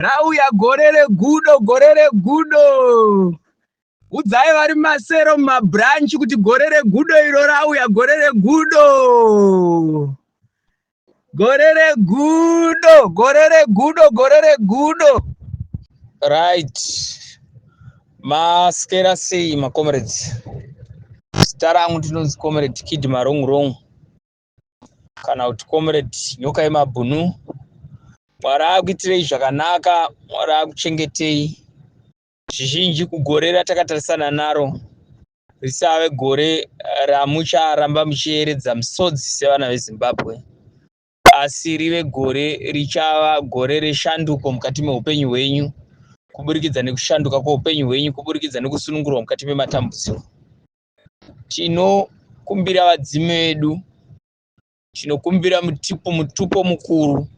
Rauya gore regudo, gore regudo. Udzai vari masero mumabranch kuti gore regudo iro rauya, gore regudo. Gore regudo, gore regudo, gore regudo. Right. Maskera sei maComrades? Zita rangu ndinonzi Comrade Kid Marong Rong. kana kuti comrade nyoka yemabhunu mwari akuitirei zvakanaka mwari akuchengetei zvizhinji kugore ratakatarisana naro risave gore ramucharamba muchieredza misodzi sevana vezimbabwe asi rive gore richava gore reshanduko mukati meupenyu hwenyu kuburikidza nekushanduka kweupenyu hwenyu kuburikidza nekusunungurwa mukati mematambudziko tinokumbira vadzimu vedu tinokumbira mutipo mutupo mukuru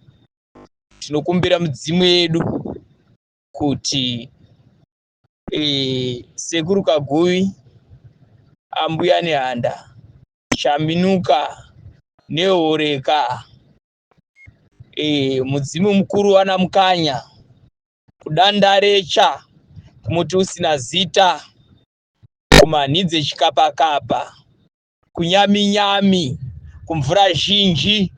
tinokumbira mudzimu yedu kuti e, sekuru kaguvi ambuya nehanda chaminuka nehoreka e, mudzimu mukuru wana mukanya kudandarecha kumuti usina zita kumanhi dzechikapakapa, kunyaminyami, kumvura zhinji.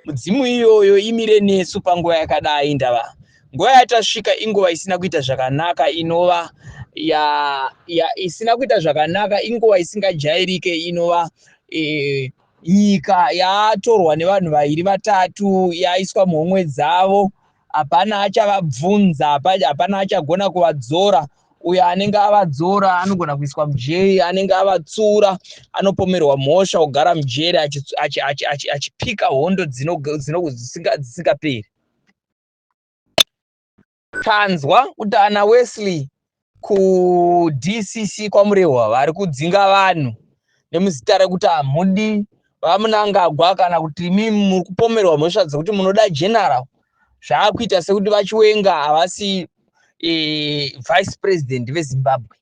Mudzimu iyoyo imire nesu panguva yakadai ndava nguva yatasvika inguva isina kuita zvakanaka inova ya, ya isina kuita zvakanaka inguva isingajairike inova e, nyika yatorwa nevanhu vairi vatatu yaiswa muhomwe dzavo Hapana achavabvunza, hapana achagona kuvadzora. Uyo anenge avadzora anogona kuiswa mujeri, anenge avatsura anopomerwa mhosva ogara mujeri achipika hondo dzisingaperi. Tanzwa kuti ana Wesley kudcc kwamurehwa vari kudzinga vanhu nemuzita rekuti hamudi vamunangagwa kana kuti imi muri kupomerwa mhosva dzekuti munoda general zvaakuita sekuti vachiwenga havasi e, vice president vezimbabwe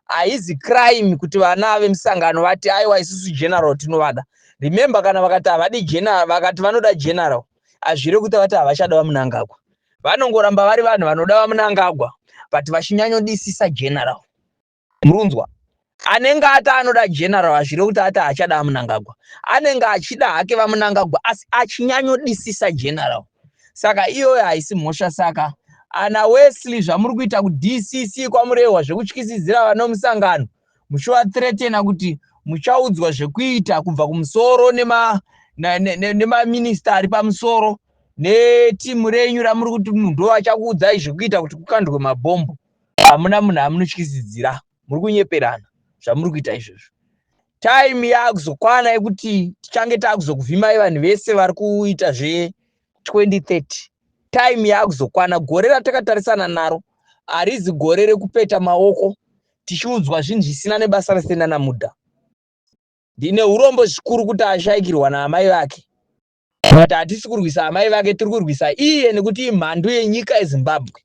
haizi crime kuti vana vemusangano vati aiwa isusu general tinovada remember kana vakati havadi general vakati vanoda general azvire kuita vati havachada vamunangagwa vanongoramba vari vanhu vanoda vamunangagwa but vachinyanyodisisa general murunzwa anenge ati anoda general azvire kuti ati achada vamunangagwa anenge achida hake vamunangagwa asi achinyanyodisisa general saka iyoyo haisi mhosva saka ana wesley zvamuri kuita kudcc kwamurehwa zvekutyisidzira vanomusangano muchivathreatena kuti muchaudzwa zvekuita kubva kumusoro nemaminista ari pamusoro netimu renyu ramuri kuti munhu achakuudzai zvekuita kuti kukandwe mabhombo hamuna munhu amunotyisidzira muri kunyeperana zvamuri kuita izvozvo time yaakuzokwana yekuti tichange taakuzokuvhimai vanhu vese vari kuita zve2030 time yaakuzokwana gore ratakatarisana naro harizi gore rekupeta maoko tichiudzwa zvinhu zvisina nebasa rese nana mudha ndine urombo zvikuru kuti ashaikirwa naamai vake but hatisi kurwisa amai vake tiri kurwisa iye nekuti imhandu yenyika yezimbabwe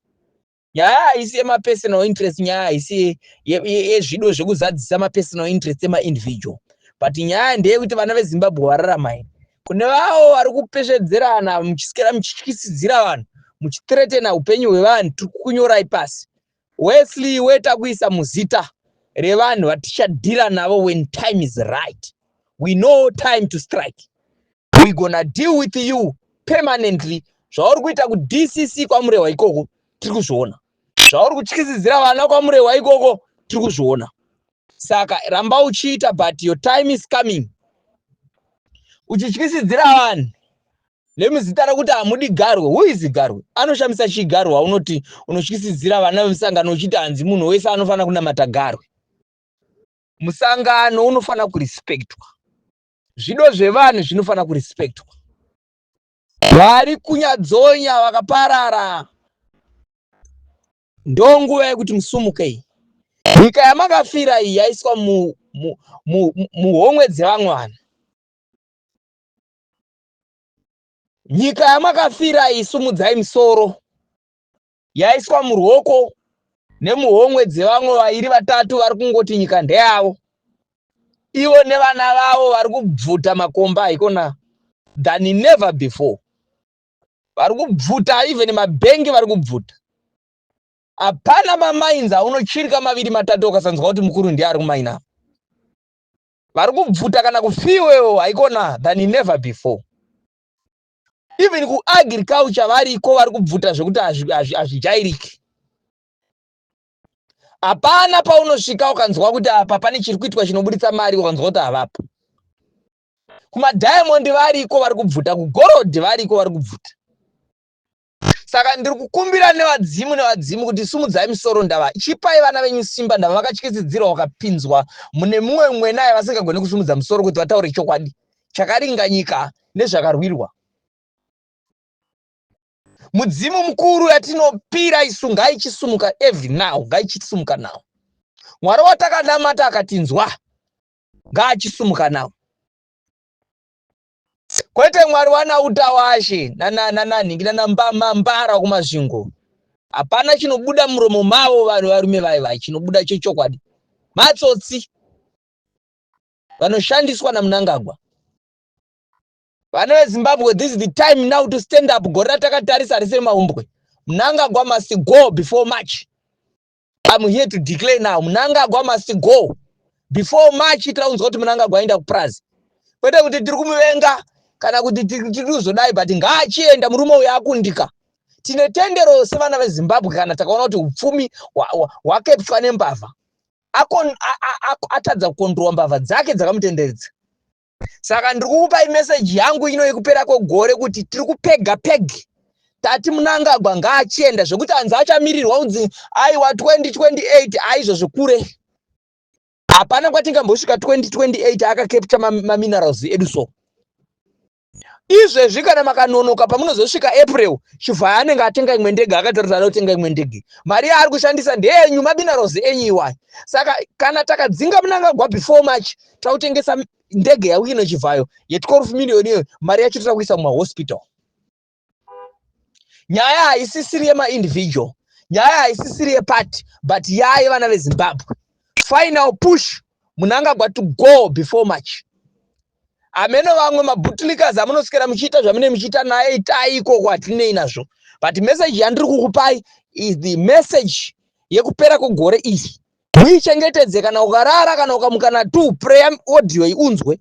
nyaya haisi yemapersonal interest nyaya haisi yezvido zvekuzadzisa mapersonal interest emaindividual but nyaya ndeyekuti vana vezimbabwe vararamai kune vavo vari kupesvedzerana muchisikira muchityisidzira vanhu muchitretena upenyu hwevanhu tiri kukunyorai pasi Wesley iwe takuisa muzita revanhu vatichadhira navo when time is right we know time to strike we gonna deal with you permanently zvauri kuita kudcc kwamurehwa ikoko tiri kuzviona zvauri kutyisidzira vana kwamurehwa ikoko tiri kuzviona saka ramba uchiita but your time is coming uchityisidzira vanhu nemuzita rekuti hamudi garwe who is garwe anoshamisa chii garwe waunoti unotyisidzira vana vemusangano uchiti hanzi munhu wese anofanira kunamata garwe musangano unofanira kurespectwa zvido zvevanhu zvinofanira kurespectwa vari kunyadzonya vakaparara Ndonguva yekuti musumuke iyi. Nyika yamakafira iyi yaiswa muhomwe dzevamwana. Nyika yamakafira iyi sumudzai misoro. Yaiswa murwoko nemuhomwe dzevamwe vairi vatatu vari kungoti nyika ndeyavo. Ivo nevana vavo vari kubvuta makomba haikona than never before. vari kubvuta even mabhengi vari kubvuta hapana mamainzi aunochirika maviri matatu ukasanzwa kuti mukuru ndiye ari kumaina apa vari kubvuta kana kufiwewo haikona than never before even kuagriculture variko vari kubvuta zvekuti hazvijairiki hapana paunosvika ukanzwa kuti apa pane chiri kuitwa chinoburitsa mari ukanzwa kuti havapo kumadiamond variko vari kubvuta kugorodhi variko vari kubvuta saka ndiri kukumbira nevadzimu nevadzimu kuti sumudzai misoro ndava chipai vana venyu simba ndava vakatyisidzirwa vakapinzwa mune mumwe mwena yavasingagoni kusumudza musoro kuti vataure chokwadi chakaringanyika nezvakarwirwa mudzimu mukuru yatinopira isu ngaichisumuka every now ngaichisumuka now mwari watakanamata akatinzwa ngaachisumuka nawo kwete mwari wanautawashe nananhingi nanambamambara kumasvingo hapana chinobuda muromo mavo vanhu varume vaye vaye chinobuda chechokwadi matsotsi vanoshandiswa namunangagwa vana vezimbabwe this is the time now to stand up gore ratakatarisa rese remahumbwe munangagwa must go before march I'm here to declare now Mnangagwa must go before March taunzwa kuti Mnangagwa aenda kupurazi kwete kuti tiri kumuvenga kana kuti tiri kuzodai but ngaachienda murume uyo akundika tine tendero sevana vezimbabwe kana takaona kuti upfumi hwakepswa nembavha atadza kukondirwa mbavha dzake dzakamutenderedza saka ndiri kukupai meseji yangu ino yekupera kwegore kuti tiri kupega peg tati munangagwa ngaachienda zvekuti hanzi achamirirwa kunzi aiwa 2028 aizvo zvekure hapana kwatingambosvika 2028 akakepta maminerals edu so izvezvi kana makanonoka pamunozosvika april chivhaya anenge atenga imwe ndege akataura kuti anotenga imwe ndege mari yaari kushandisa ndeyenyu mabinaros enyu iwayo saka kana takadzinga munangagwa before march tautengesa ndege yauye nechivhayo ye12 million iyoyo mari yacho tira kuisa mumahospital nyaya haisisiri yemaindividual nyaya haisisiri yeparty but yaye vana vezimbabwe final push munangagwa to go before march hameno vamwe mabutlikas amunosikira muchiita zvamune muchiita naye itai ikoko hatinei nazvo but message yandiri kukupai is the message yekupera kwegore iri muichengetedze kana ukarara kana ukamuka na two prayer audio iunzwe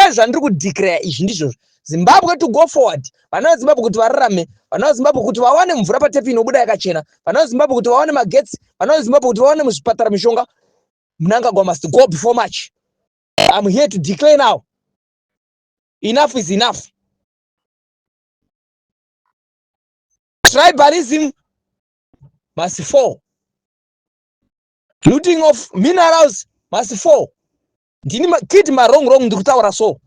ezvandiri kudeclare izvi ndizvozvo zimbabwe to go forward vana vezimbabwe kuti vararame vana vezimbabwe kuti vawane mvura patepi inobuda yakachena vana vezimbabwe kuti vawane magetsi vana vezimbabwe kuti vawane muzvipatara mishonga mnangagwa must go before march im here to declare now enough is enough tribalism must fall looting of minerals must fall ndini kid marong rong ndiri kutaura so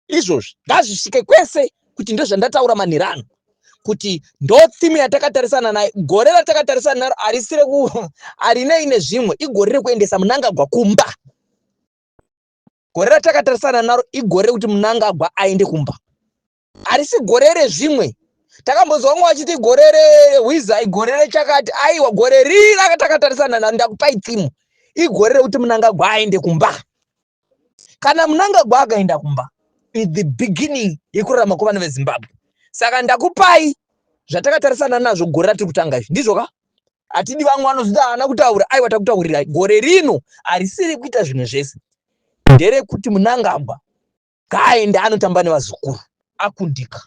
izvozvi ngazvisvike kwese kuti ndozvandataura manhiri ano kuti ndo theme yatakatarisana nayo gore ratakatarisana naro harisi reku harinei nezvimwe igore rekuendesa munangagwa kumba gore ratakatarisana naro igore rekuti munangagwa aende kumba harisi gore rezvimwe takambonzwa vamwe vachiti gore rehwiza igore rechakati aiwa gore riri rakatakatarisa nani ndakupai timu igore rekuti munangagwa aende kumba kana munangagwa akaenda kumba is the beginning yekurarama kwevana vezimbabwe saka ndakupai zvatakatarisana nazvo gore ratiri kutanga izvi ndizvo ka hatidi vamwe vanozoti haana kutaura aiwa takutaurira gore rino harisiri kuita zvinhu zvese nderekuti munangagwa ngaaende anotamba nevazukuru akundika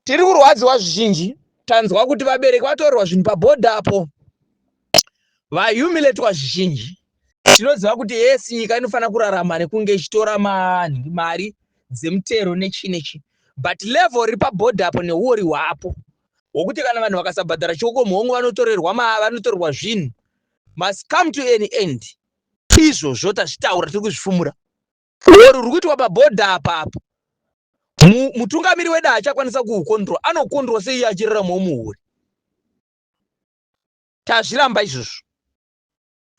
tiri kurwadziwa zvizhinji tanzwa kuti vabereki vatorerwa zvinhu pabhodha apo vahumiletwa zvizhinji tinoziva kuti yes nyika inofanira kurarama nekunge ichitora mari dzemutero nechii nechii but level riri pabhodha apo neuori hwapo hwokuti kana vanhu vakasabhadhara chiokomhongo vanotorerwa vanotorerwa zvinhu must come to an end izvozvo tazvitaura tiri kuzvifumura or ruri kuitwa pabhodha apa apa mutungamiri wedu haachakwanisa kuukondrol anokondrol sei iye achiraramawo muhure tazviramba izvozvo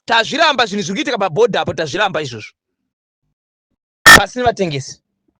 tazviramba zvinhu zviri kuitika pabhodha apo tazviramba izvozvo pasini vatengesi